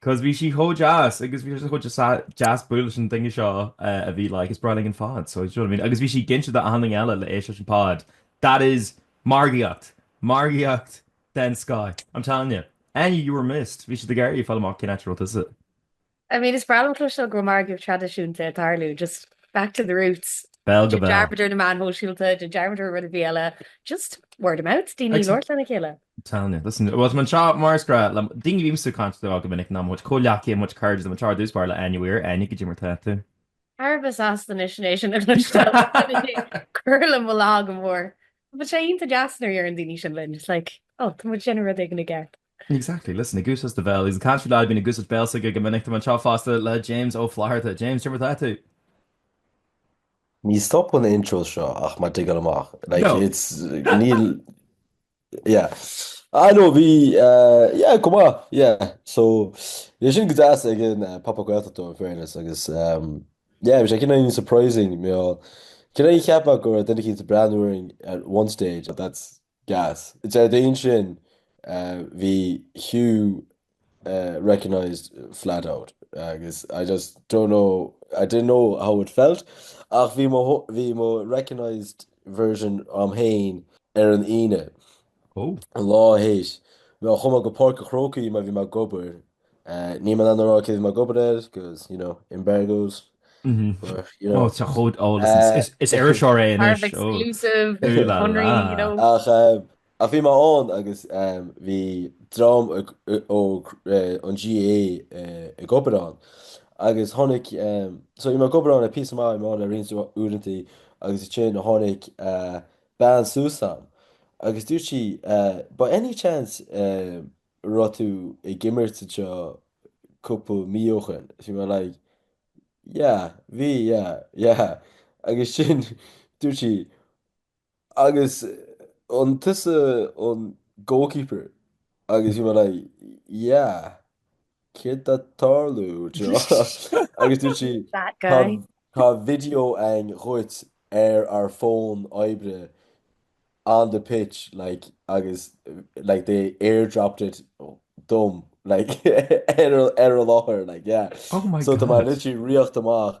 'Cause bhí sí chomh deas agus bhí sé chomh deas bualadh leis an duine seo a bhí like is breá linn an pod so do you know what I mean? Agus bhí sí ag inse d'achan duine eile le éist leis an pod. That is margaíocht! Margaíocht den scoth! I'm telling you. Áine, you were missed. Bhí siad ag iarraidh fáil amach cén áit a raibh tusa. I mean is breá liom cloisteáil go bhfuil margaíocht traidisiúnta ag tarlú, just back to the roots. Béal go béal. Dearmad ar na meáin shóisialta, dearmad ar rud ar bith eile, just word of mouth, daoine ag labhairt lena chéile. I'm telling you, listen, bhuel, tá mé anseo mar is gnách le daoine a bímse ag caint leo go minic ná mo chomhghleacaithe, mo chairde, tá mé anseo ar dtús báire le Áine Weir, Áine, cad é mar tá tú. Ar fheabhas anois anois a chloisteáil is cur le mo lá go mór. Bhuel, sé iontach deas nuair a deireann daoine sin linn, it's like, oh, tá muid ag déanamh rud éigin i gceart. Exactly, listen, a goose has the bell, he's the country lad, bíonn a goose at béal s'aige go minic, tá mé anseo fosta le James Ó Flatharta. James, cad é mar tá tú. Ní stopann na intros seo ach má dtigeann amach, like, it's, níl, Yeah. Ah no, bhí, eh, yeah, chomh maith, yeah. So, bhí sé sin go deas ag an eh, Pop-Up Gaeltacht though, in fairness, agus, ehm, yeah, bhí sé cineál surprising, mé cineál ag ceapadh go raibh duine eicínt ag breathnú orainn at one stage, but that's gas. Is ar an Déardaoin sin, eh, bhí Hugh recognised flat out agus I just don't know, I didn't know how it felt ach bhí mo, bhí mo recognised version a'm féin ar an Aoine, oh. an lá théis nuair a chuaigh mé go Páirc a' Chrócaigh mar bhí mé ag obair. Uh, níl mé in ann a rá cé bhí mé ag obair air, because, you know, embargoes. Mm -hmm. But, you know, oh, tá chód, oh, listen, uh, is, is iriseoir é anois. Exclusive, Connery, you know. Ach, uh, Ach bhí mé ann agus bhí dream ó an GAA ag obair ann agus tháinig, so bhí mé ag obair ann le píosa maith, bhí mé ann le roinnt uaireantaí agus ansin tháinig bean suas a'm agus dúirt sí by any chance a raibh tú ag imirt anseo cúpla mí ó shin? Bhí mé like yeah, bhí yeah, yeah. Agus ansin dúirt sí, Agus an tusa an goalkeeper? Agus bhí mé like, yeah, céard tá ag tarlú anseo? Agus dúirt sí, That tá, guy. tá video ann dhuit ar ár bhfón oibre on the pitch, like, agus, like, they airdropped it dom, like, ar, ar an láthair, like, yeah. Oh my So tá mé God. literally riocht amach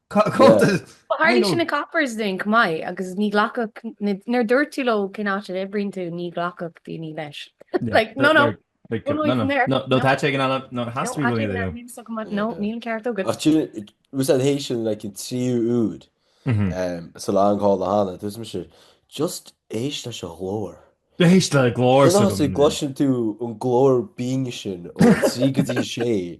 Tharlaigh sin ag Coppers dúinn chomh maith agus ní ghlacfadh, nuair a dúirt tú leo cén áit a oibríonn tú, ní ghlacfadh daoine leis. Like, no, no. No, tá sé ag an eala, no, has to be really there. No, níl an ceart agat. Ach sin, mus an théis sin, like, an tríú rud, sa lá an call do Hannah, dúirt mise, just éist leis an ghlór. Beidh sé glór sa gcluiche. D'fhéadfadh sé go gcloiseann tú an glór binn sin ó 3 go dtí 6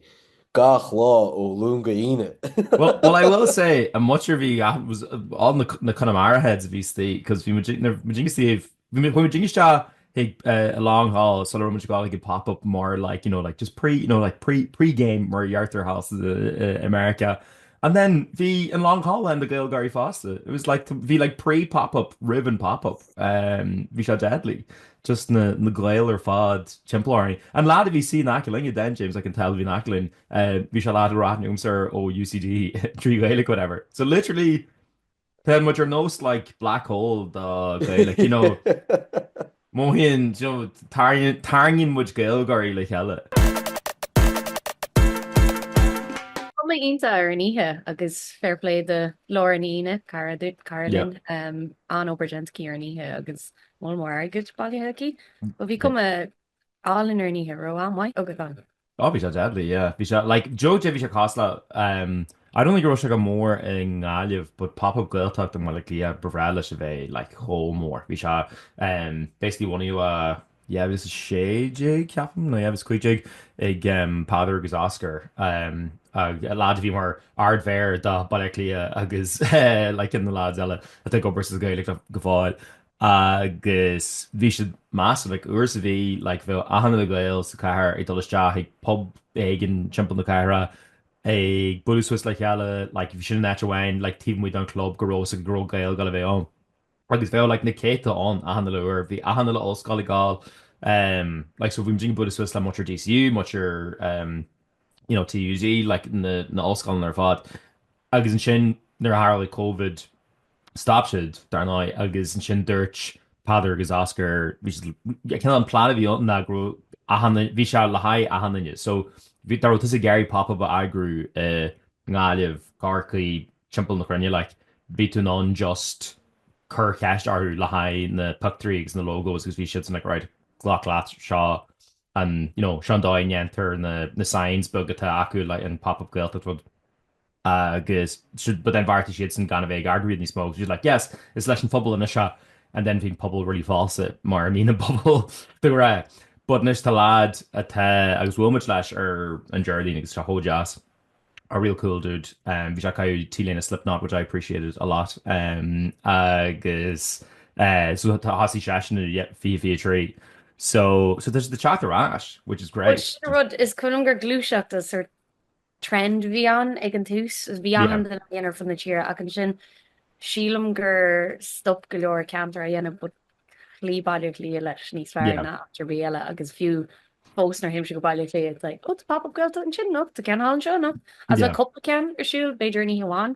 gach lá ó Luan go hAoine. Well I will say an mhuintir a bhí was all na Connemara heads a bhí istigh 'cause bhí muidinne ag dul, bhí muidinne ag dul isteach ag an Long Hall sula raibh muid ag gabháil chuig an pop up mar like you know like just pre you know like pre pre game mar a deirtear thall i America And then bhí an Long Hall lán de Ghaeilgeoirí fosta. It was like, bhí like pre pop up roimh an pop up. Bhí sé deadly. Just na Gaeil ar fad timpeall orainn. An leaid a bhí ina shuí in aice linn, and then James McIntyre bhí in aice linn, bhí sé ag labhairt liomsa ó UCD trí Ghaeilge whatever. So literally Tá muid ar nós like black hole do Ghaeilge, you know, mothaíonn, you know, tarraing- tarraingíonn muid Gaeilgeoirí le chéile. Cuma iontach ar an oíche agus fair play do Lauren Ní Aoine, cara duit, cara linn, an-obair déanta aici ar an oíche agus moll mór airgid bailithe aici. Bhí cuma All in ar an oíche go raibh am maith agat ann. Oh bhí sé deadly yeah bhí sé like d'you know bhí sé cosúil le um I don't think go raibh sé chomh mór i nGaillimh but pop up Gaeltacht i mBaile Átha Cliath ba ghnáth leis a bheith like chomh mór bhí sé um basically bunaithe i yeah fiche 16 ceapaim nó yeah fiche 15 ag um Peadar agus Oscar um an leaid a bhí mar ardmhéara do Bhaile Átha Cliath agus eh like tá an leaid eile ag obair sa Ghaeltacht go fóill agus bhí siad míosúil, like uair sa mhí, like bheadh achan uile Gael sa chathair ag dul isteach chuig pub éigin timpeall na cathrach ag bualadh suas le chéile, like bhí sin an áit amháin like taobh amuigh den chlub go raibh a fhios agat go raibh Gaeil ag gabháil a bheith ann. Agus bheadh like na céadta ann achan uile uair, bhí achan uile ollscoil ag gabháil em like so bhí muid ag bualadh suas le muintir DCU, muintir em you know TUD like na na ollscoileanna ar fad. Agus ansin, nuair a tharla Covid, stop siad, dar ndóigh, agus ansin dúirt Peadar agus Oscar, cineál an plean a bhí ann ná go raibh achan duine, bhí sé le haghaidh achan duine. So, bhí, dá raibh tusa ag iarraidh pop up a eagrú i nGaillimh, Corcaigh, timpeall na cruinne, like, bhí tú in ann just cur ceist orthu le haghaidh na pictiúirí agus na logos agus bhí siadsan like alright, glac leat, seo an, you know, seo an dóigh a ndéantar na, na signs beaga atá acu, like an pop up Gaeltacht acu. agus but then bheartaigh siadsan gan a bheith ag eagrú iad níos mó agus bhí siad like yes, is leis an phobal anois é and then bhí an pobal really falsa mar a bhíonn an pobal de ghnáth but anois tá lad atá agus bhuail muid leis ar an Déardaoin agus tá sé chomh deas a real cool dude um, bhí sé ag caitheamh T-léine Slipknot which I appreciated a lot um, agus uh, so thosaigh seisean i 23 so, so tá sé ag teacht ar ais which is great. Well, rud is cosúil gur gluaiseacht ar trend a bhí ann ag an tús. Bhí achan duine á dhéanamh ar fud na tíre ach ansin sílim gur stop go leor ceantar á dhéanamh but chloígh Baile Átha Cliath leis níos fearr ná áit ar bith eile agus fiú fós nuair a théimse go Baile Átha Cliath it's like oh tá pop-up Gaeltacht ansin anocht, tá ceann thall anseo anocht agus tá cúpla ceann ar siúl b'fhéidir in oíche amháin.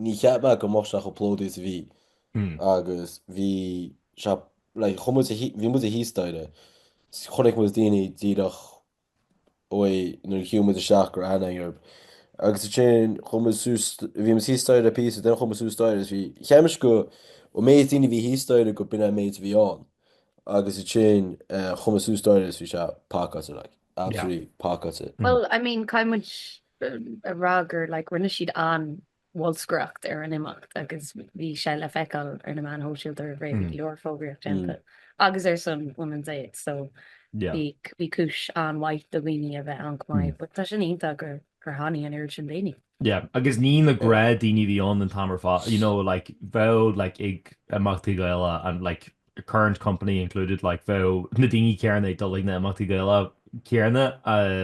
Ní cheap mé go mbeadh sé chomh plódaithe is a bhí agus bhí sé, like, chuaigh muid, bhí muid thíos staighre, chonaic muid daoine díreach uaidh nuair a shiúil muid isteach go raibh aithne againn orthu. Agus ansin chuaigh muid suas, bhí muid thíos staighre le píosa, then chuaigh muid suas staighre agus bhí, cheap mise go, an méid daoine a bhí thíos staighre go b'in é an méid a bhí ann. Agus ansin chuaigh muid suas staighre agus bhí sé pacáilte, like. absolutely pacáilte. Bhuel, I mean, caithfidh muid a rá gur like rinne siad an-bholscaireacht ar an imeacht agus bhí sé le feiceáil ar na meáin shóisialta roimh ré, bhí go leor fógraíocht déanta agus ar son Women's Aid so bhí cúis an-mhaith do dhaoine a bheith ann chomh maith but tá sin iontach gur tháinig an oiread sin daoine. Yeah, agus ní na gnáthdhaoine a bhí ann an t-am ar fad, you know like bheadh like ag imeachtaí Gaeilge and like current company included like bheadh na daoine céarna ag dul ag na himeachtaí Gaeilge céarna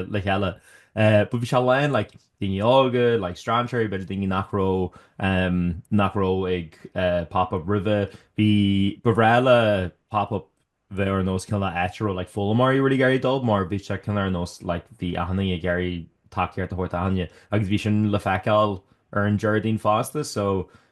le chéile. But bhí sé lán like daoine óga, like strainséirí, b'fhéidir daoine nach raibh ehm nach raibh ag pop up roimhe. Bhí ba ghnáth le pop up bheith ar nós cineál áit a raibh like foghlaimeoirí really ag iarraidh dul mar bhí sé cineál ar nós like bhí achan duine ag iarraidh tacaíocht a thabhairt d'achan duine agus bhí sin le feiceáil ar an Déardaoin fosta so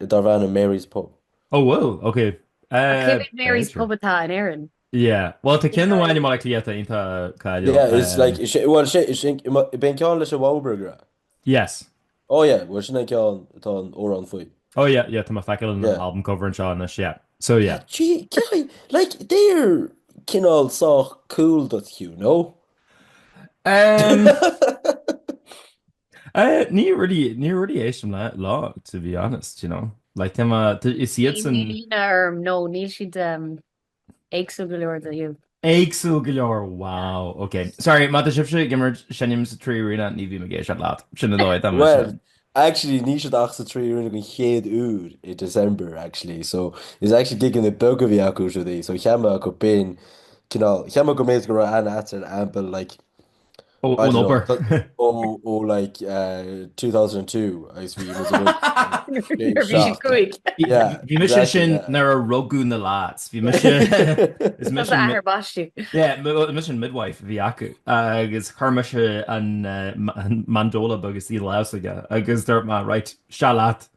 darb ainm Mary's Pub. Oh bhuel, ok. Ach cé mhéad Mary's Pub atá in Éirinn? Yeah. Bhuel, tá ceann amháin i mBaile Cliath iontach cáiliúil. Yeah, is like, is é, bhuel, is é, is é, ab é an ceann leis an Wowburger? Yes. Oh yeah, bhuel, sin é an ceann atá an amhrán faoi. Oh yeah, yeah, tá mé ag feiceáil an yeah. album cover anseo anois, yeah. So yeah. Gee, gee, like, they're cineál sách cool duit, Hugh, no? Um... Eh, ní really, ní really éistim leo, to be honest, you know. Like, tá mé, tá, is iad Níl san, líne orm, nó níl siad em, éagsúil go leor do Hugh. Éagsúil go leor, wow, ok. Sorry, má tá sibhse ag imirt seinm sa Trí Arena, ní bheidh mé ag éisteacht leat. Sin an dóigh, tá mé Well, sin. actually, níl siad ach sa Trí Arena den chéad uair i December, actually, so is actually gigeanna beaga a bhí acu is rudaí, so cheap mé go b'in, cineál, cheap mé go mb'fhéidir go raibh aithne agat ar an aimple, like, Ón obair. Ó, ó, like, uh, 2002, agus bhí was a good... Bhí mise ansin nuair a rugadh na lads, bhí mise... Is mise an... athair baistí. Yeah, mise an midwife a bhí acu, agus chuir mise an mandola agus í laos aige, agus dúirt mé, right, seo leat,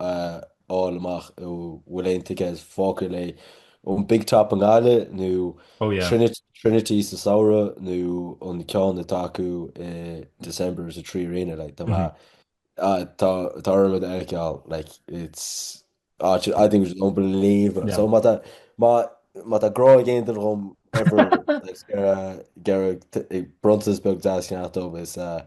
a fháil amach an bhfuil aon tickets fágtha le haghaidh an Big Top i nGaillimh nó Trinity sa samhradh nó an ceann atá acu i December sa Trí Arena. Like, tá mar, ah, tá, tá orm iad a fheiceáil, like, it's, ah, I think it was unbelievable. So, má tá, má, má tá grá ag aon duine dhom ever, like, ger, ger, bronntanas beag deas a cheannacht dom is, uh,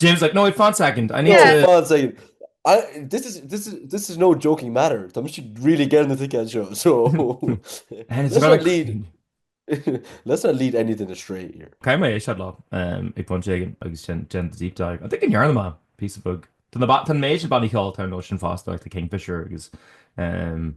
James like no fun second I need yeah. to... fun second I, this is this is this is no joking matter Tá si really get na ticket show so lead let's not lead anything astray here Caim mé éis lá ag fan ségan agus sin gen deep dive I think an yarn ma piece of book Tá na bat an méid ban hall tar notion fast like the Kingfisher agus um,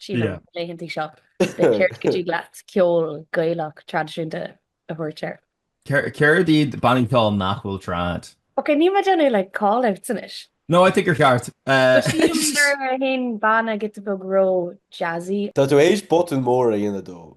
Sna laethanta seo, céard go dtig leat ceol Gaelach traidisiúnta a thabhairt air. Céard iad bannaí ceoil nach bhfuil trad? Ok, níl mé déanamh like call-outs anois. No, I think you're ceart. Tá sílim go raibh aon bhanna giota beag ró-jazzy. Tá tú théis botún mór a dhéanamh dó.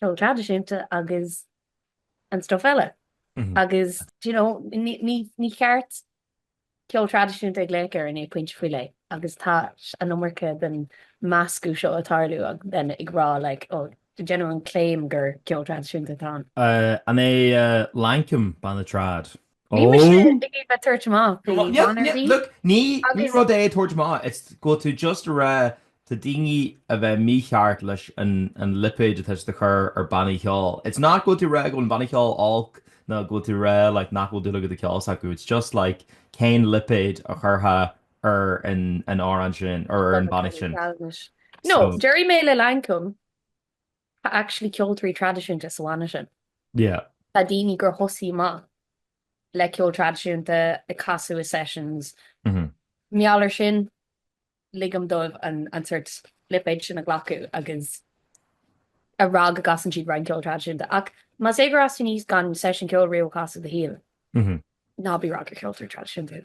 ceol traidisiúnta agus an stuff eile. Agus, do you know, ní cheart ceol traidisiúnta a ghlaoch air i ndiaidh pointe faoi leith. Agus tá an iomarca den meascadh seo ag tarlú agus then ag rá like, oh, déanamh an claim gur ceol traidisiúnta atá ann. An é Lankum banna trad? Níl mise Ó! ag iarraidh a tabhairt amach faoi Ní John ar bith. look, ní Agus- rud é tabhairt amach, it's go bhfuil tú just a rá tá daoine a bheith mícheart leis an an lipéid atá siad a chur ar bannaí cheoil. It's not go bhfuil tú rá go bhfuil an banna cheoil olc nó go bhfuil tú rá like nach bhfuil dúil agat sa ceol s'acu. It's just like cén lipéid a chuirfeá ar an an amhrán sin ar an banna sin. No, So- déarfaidh mé le Lankum. Tá actually ceoltóirí traidisiúnta sa bhanna sin. Yeah. Tá daoine gur thosaigh amach le ceol traidisiúnta ag casadh i sessions. Mhm. Mar gheall ar sin, ligim dóibh an, an sórt lipéid sin a ghlacadh agus a rá go gcasann siad roinnt ceol traidisiúnta. Ach más é gur fhás tú aníos gan session ceol riamh a chasadh i do shaol, Mhm. ná bí rá gur ceoltóir traidisiúnta.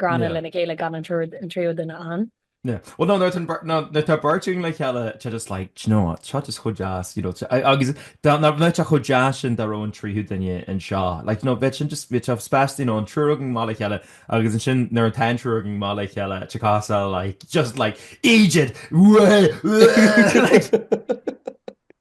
gránna lena gcéile gan an tríú duine ann. Bhuel ná nuair nuair tá beirt againn le chéile tá sé just like, do you know what, seo just chomh deas, you know, agus ní bheadh sé chomh deas sin dá raibh an tríú duine anseo, like, you know, bheadh sin just, bheadh sé spéis, you know, an triúr againn amach le chéile agus ansin nuair atá an triúr againn amach le chéile te cá sa like, just like, eejit! Whee! Whee! like.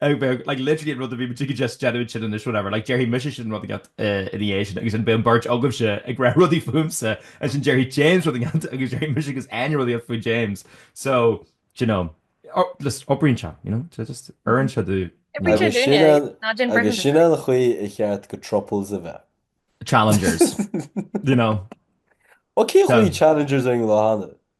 Ag beag, like, literally an rud a bhí muid ag just déanamh ansin anois, whatever, like, déarfaidh mise rud eicínt ina dhiaidh sin agus ansin beidh an bheirt agaibhse ag rá rudaí fúmsa, ansin déarfaidh James rud eicínt agus déarfaidh mise agus Áine rud eicínt faoi James. So, do you know, just oibríonn sé, you know, tá just, oireann sé do, you know. Oibríonn sé dúinne, ná déan Brendan. Agus sin an chaoi ar cheart do throuples a bheith. Challengers, do you know. Ó, cén chaoi challengers ar an lá cheana?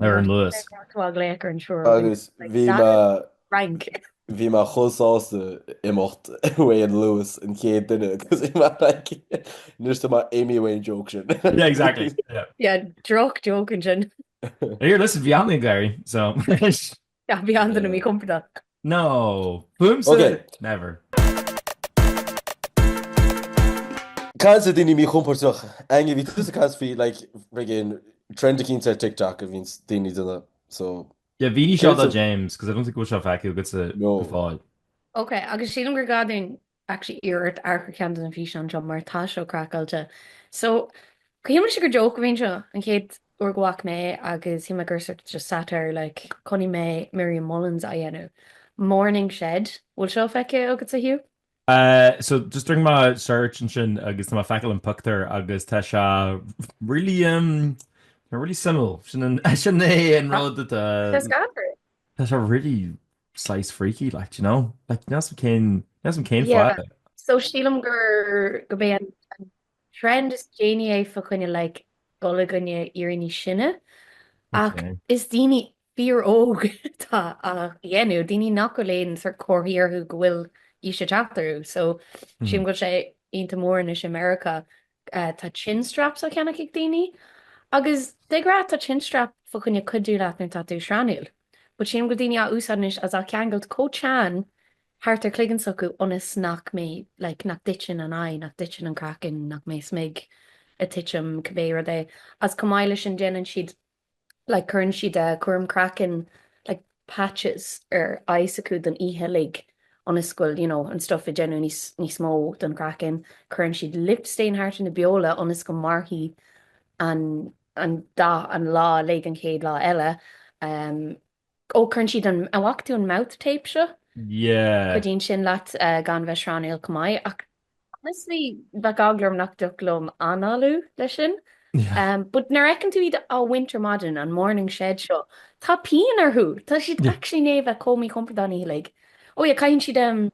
Ar an Luas. Agus bhí mé, bhí mé chomh sásta imeacht uaidh an Luas, an chéad duine, agus bhí mé like, anois tá mé i mo mhain joke ansin. Yeah, exactly. Yeah. Yeah, droch joke ansin. Here, listen, bhí mé ag gáirí, so. Nach bhí an duine míchompordach. No. Boom sa. Okay. Never. Caint ar dhaoine míchompordach? Áine bhí tusa ag caint faoi like friggin trend éicint ó TikTok a bhíonn daoine ag déanamh so. Yeah, bhí ní seo James, cos I don't think go bhfuil seo feicthe agatsa go fóill. Ok, agus sílim gur gá dúinn actually iarraidh ort amharc ar cheann de na físeáin seo mar tá seo craiceáilte. So, shíl mise gur joke a bhí anseo an chéad uair go bhfaca mé é agus shíl mé gur sort of just satire like chonaic mé Miriam Mullins á dhéanamh. Morning Shed, bhfuil seo feicthe agatsa, Hugh? So, just rinne mé search ansin agus tá mé ag feiceáil an pictiúr agus tá sé really em tá really suimiúil. Sin an sin é an rud atá Tá scanrúil. tá sé really saghas freaky like do you know like níl a fhios agam cén níl a fhios agam cén fáth Yeah, so sílim gur gurb é an an trend is déanaí é fa choinne like dul i gcoinne éirí níos sine ach okay is daoine fíor óg atá á dhéanamh, daoine nach bhfuil aon sort comharthaí orthu go bhfuil aois ag teacht orthu, so sílim go bhfuil sé iontach mór anois i Meiriceá tá chin straps á cheannach ag daoine. Agus de ghnáth, tá chin strap fá choinne cuidiú leat nuair atá tú srannúil. But chím go bhfuil daoine á úsáid anois agus á cheangailt chomh teann thart ar chloigeann s'acu ionas nach mbeidh, like, nach dtiteann an aghaidh, nach dtiteann an craiceann, nach mbeidh smig ag titim, cibé rud é. Agus chomh maith le sin, déanann siad like cuireann siad eh cúram craicinn like patches ar aghaidh s'acu don oíche uilig ionas go bhfuil you know an stuff ag déanamh níos níos mó don chraiceann cuireann siad lip stain thart ar na beola ionas go mairfidh an an dath an lá uilig an chéad lá eile em ó cuireann siad an, an bhfaca tú an mouth tape seo? Yeah. Cuidíonn sin leat gan bheith srannúil chomh maith ach honestly bheadh eagla orm nach dtiocfadh liom análú le sin. But nuair a fheiceann tú iad á bhaint ar maidin, an morning shed seo, tá pian orthu, tá siad actually i ndiaidh a bheith chomh míchompordach an oíche uilig. Oh yeah, caitheann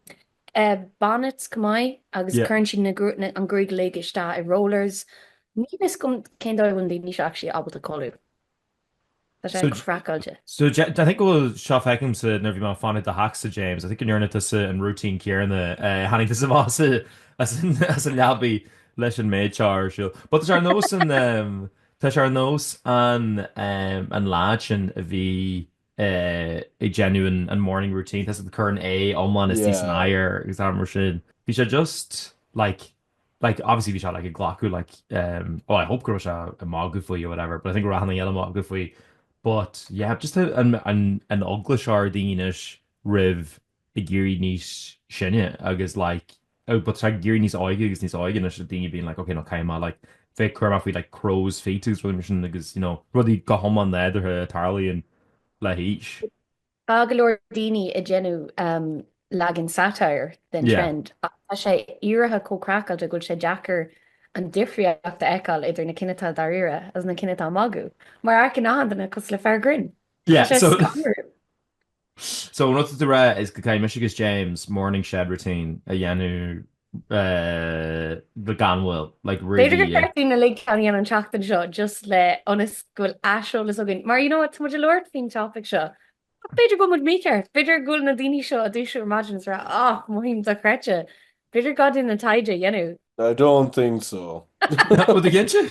siad bonnets chomh maith agus cuireann siad na, an ghruaig uilig isteach i rollers. Níl a fhios agam cén dóigh a bhfuil daoine seo actually ábalta codladh. Tá sé craiceáilte. So, I think go bhfuil seo feicthe agamsa nuair bhí mé ag fanacht i do theachsa James, I think go ndearna tusa an routine céarna, eh, tháinig tusa amach as an leabaidh leis an méid seo ar siúl. But tá sé ar nós an, ehm, tá sé ar nós an, ehm, an lad sin a bhí, eh, ag déanamh an, an morning routine, tá sé ag cur an aghaidh iomlán istigh san Yeah. oighear agus rudaí mar sin. Bhí sé just, like, like obviously bhí sé like ag glacadh like um oh I hope go raibh sé ag magadh faoi or whatever but I think go raibh sé ag déanamh magadh faoi but yeah just how an an an eagla seo ar dhaoine anois roimh ag éirí níos sine agus like oh but ag éirí níos óige agus níos óige anois le daoine being like ok now caithfidh mé like bheith cúramach faoi like crow's feet agus rudaí mar sin agus you know rudaí go hiomlán nádúrtha a tharlaíonn le haois. Tá go leor daoine ag déanamh leagan satire den trend ach tá sé éirithe chomh craiceáilte go bhfuil sé deacair an difríocht a fheiceáil idir na cinn atá dáiríre agus na cinn atá ag magadh, mar amharcann achan duine cosúil le fear grinn. Tá sé scanrúil. So an rud atá tú ag rá is go gcaithfidh mise agus James morning shed routine a dhéanamh. gan mhoill, like really. B'fhéidir gur ceart dúinn uilig ceann a dhéanamh an tseachtain seo just le ionas go bhfuil aiseolas againn, mar you know what, tá muid ag labhairt faoin topaic seo, ach b'fhéidir go bhfuil muid mícheart, b'fhéidir go bhfuil na daoine seo ag dúiseacht ar maidin is ag rá, ach mothaím dochreidte, b'fhéidir gá duinn an taighde a dhéanamh. I don't think so. Rud a ghintear?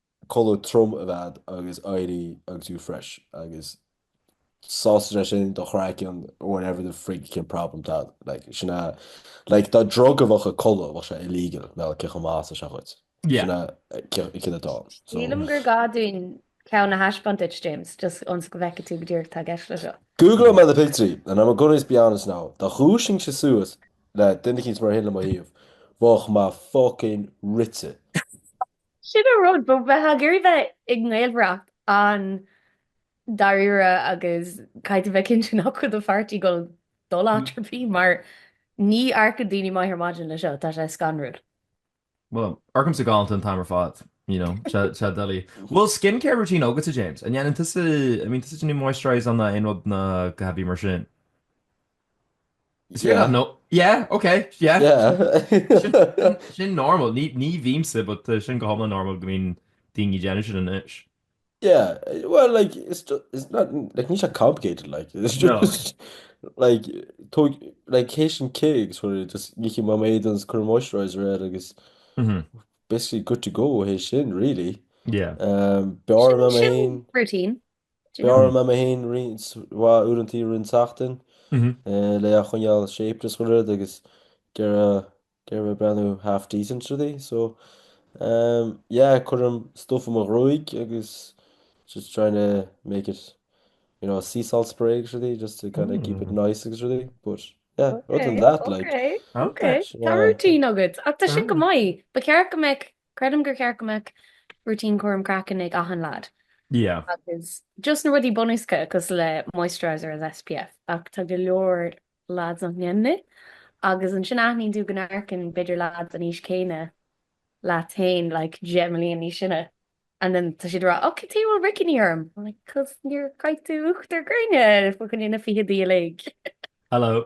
Codladh trom a bheith agat agus éirí agus tú fresh agus sásta agus ansin, do chraiceann, whatever the frigging problem atá agat. Like, sin a, like, dá mba drug a bheadh sa chodladh, bheadh sé illegal, mar gheall ar cé chomh maith is atá sé dhuit. Yeah. Sin a, cé, cé atá. So, Sílim gur gá dúinn ceann a thaispeáint duit, James, just ionas go bhfeicfidh tú go díreach cad atá i gceist leis seo. Googláil mé na pictiúirí and I'm gonna just be honest now, dá ndúiseoinnse suas le duine éicint mar sin le mo thaobh, bheadh mé fucking rite. Sin an rud, bheifeá ag iarraidh bheith i ngaolmhaireacht an-dáiríre agus caithfidh tú bheith cinnte nach bhfuil do pháirtí ag dul in áit ar bith mar ní amharcann daoine go maith ar maidin leis seo, tá sé scanrúil. Well, amharcaimse galánta an t-am ar fad, you know, c'est la vie. Bhfuil skincare routine agatsa James, an ndéanann tusa I mean an úsáideann tú moisturiser nó aon rud nó a dhath ar bith mar sin. Yeah. Yeah, no, yeah, okay, yeah. yeah. sin normal, ní, ní bhímsa, but uh, sin go homla normal go mín daoine déanú sin inis. Yeah, well, like, it's, just, it's not, like, ní sé complicated, like, it's just, no. like, tó, like, cé sin cé, agus fuair, just, ní chi má méid an cur moisturizer ar, agus, mm -hmm. basically good to go, hé sin, really. Yeah. Um, Bear am ain. Routine. Bearraim mé féin roinnt mhaith uaireanta i rith an tseachtain, le é a choinneáil shaped is gach rud agus gearr, a bheith ag breathnú half decent rudaí. So, yeah, cuirim stuff i mo ghruaig agus just trying to make it, you know, sea salt spray agus rudaí just to kind of keep it nice agus rudaí. But, yeah, other than that, like. Ok, ok. Tá routine agat. Ach tá sin go maith. Ba cheart go mbeadh Creidim gur cheart go mbeadh rúitín cúram craicinn ag achan lad. Yeah. Agus just na rudaí bunúsacha cosúil le moisturiser is SPF. Ach tá go leor lads nach ndéanann é. Agus ansin aithníonn tú go n-amharcann b'fhéidir lad den aois chéanna leat féin like deich mbliain níos sine and then tá siad ag rá ok tuige a bhfuil roicní orm? I'm like cos níor chaith tú uachtar gréine faoi choinne na fichidí uilig. Hello.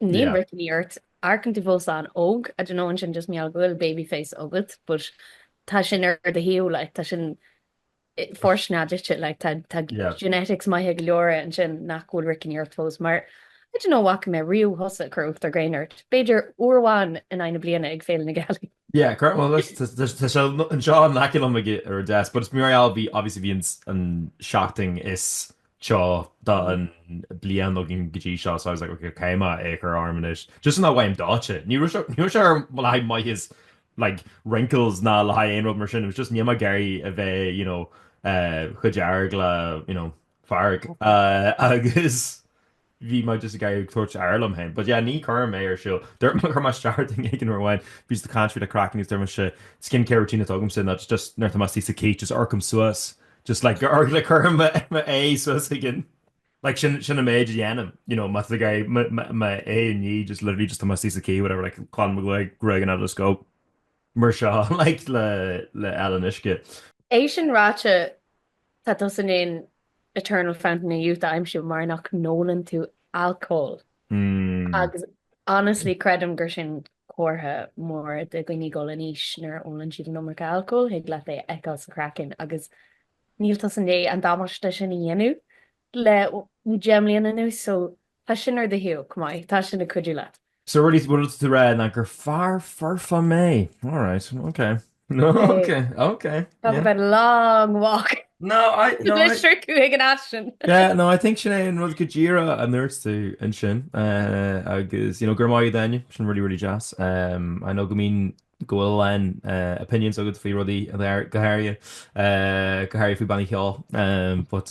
Níl roicní ort, amharcann tú fós an-óg, I don't know, an é sin just mar gheall go bhfuil baby face agat, but tá sin ar do thaobh, like, tá sin fortunate duit, like, tá, tá genetics maithe go leor ansin nach bhfuil roicní ort fós, mar, I don't know, bhfaca mé riamh thusa ag cur uachtar gréine ort, b'fhéidir uair amháin in aghaidh na bliana ag Féile na Gealaí. Yeah, cur, well, look, tá, tá, tá sé anseo in aice liom ag, ar an deasc, but is mór a lá a bhí, obviously bhí an, an seachtain is seo don bhliain againn go dtí seo so I was like ok cén fáth a mbeadh ocras orm anois just in that way I'm dodging. Ní raibh sé ar mhaithe le like wrinkles ná le haghaidh aon rud mar sin, it was just níl mé ag iarraidh a bheith you know eh chomh dearg le you know fearg eh agus bhí mé just ag iarraidh tabhairt aire dom féin. But yeah, ní chuir mé ar siúl. Dúirt mé ar starting duine éigin nuair amháin bhíos ag caint faoi an chraiceann agus deir mise skin care routine atá agamsa ná just nuair atá mé sa chith just amharcaim suas just like amharc like cuirim m'aghaidh suas ag an like sin sin an méid a dhéanaim you know má tá mé ag iarraidh mo mo m'aghaidh a ní just literally just tá mé sa chith whatever like glanaim mo ghruaig gruaig and I just go mar seo like le fáil an uisce. É sin ráite, tá tusa an Eternal Fountain of Youth a aimsiú mar nach n-ólann tú alcól. Agus honestly, creidim gur sin comhartha mór de dhaoine ag dul in aois nuair a ólann siad an iomarca alcóil, thig leat é a fheiceáil sa chraiceann agus níl tusa i ndiaidh an damáiste sin a dhéanamh le deich mbliana anuas so Tá sin ar do shon, go maith. Tá sin ag cuidiú leat. So really is é an rud atá tú a rá ná gur fear foirfe mé. All right, ok. No, ok, ok. Talk about a long walk. No, I, no, I... I think sin é an rud go díreach a ndúirt tú ansin. Agus, you know, go raibh maith agat, sin really, really deas. I know go mbíonn, go bhfuil a lán opinions agat faoi rudaí go háirithe, go háirithe faoi bhannaí ceoil, but...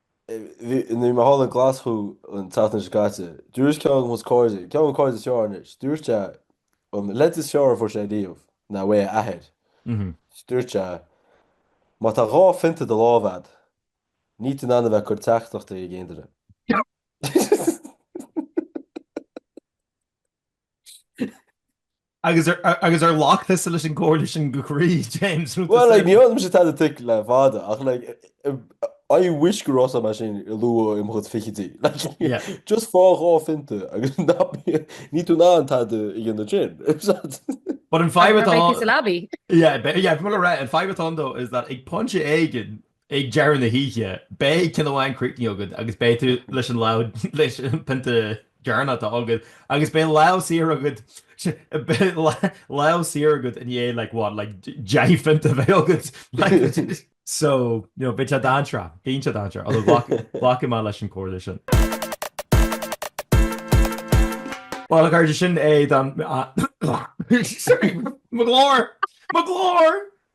Nuair a bhí mé thall i nGlaschú an tseachtain seo caite, dúirt ceann de na cairde, ceann de mo chairde is fearr anois, dúirt sé, an leid is fearr a fuair sé riamh, ná óna athair. Dúirt sé, má tá dhá phionta i do lámh agat, níl tú in ann a bheith ag cur teachtaireachtaí ag aon duine. Agus ar ghlac tusa leis an gcomhairle sin go croí, James? Bhuel, like ní ólann mise tada tuig le fada, ach like I wish go raibh sé mar sin i luath i mo chuid fichidí. Just faigh dhá phinta agus níl tú in ann tada a dhéanamh sin. But an fadhb atá ann. An fadhb atá ann, though, is that ag pointe éigin, Ag deireadh na hoíche, beidh ceann amháin críochnaithe agat agus beidh tú leis an lámh, leis an pionta deireanach atá agat, agus beidh lámh saor agat, beidh lámh saor agat i ndiaidh like what, like deich phionta a bheith agat, like. So, you know, bíonn sé dainséarach, bíonn sé dainséarach, although ghlac, glacfaidh mé leis an comhairle sin. Well, a chairde, sin é don, sorry, mo ghlór! Mo ghlór!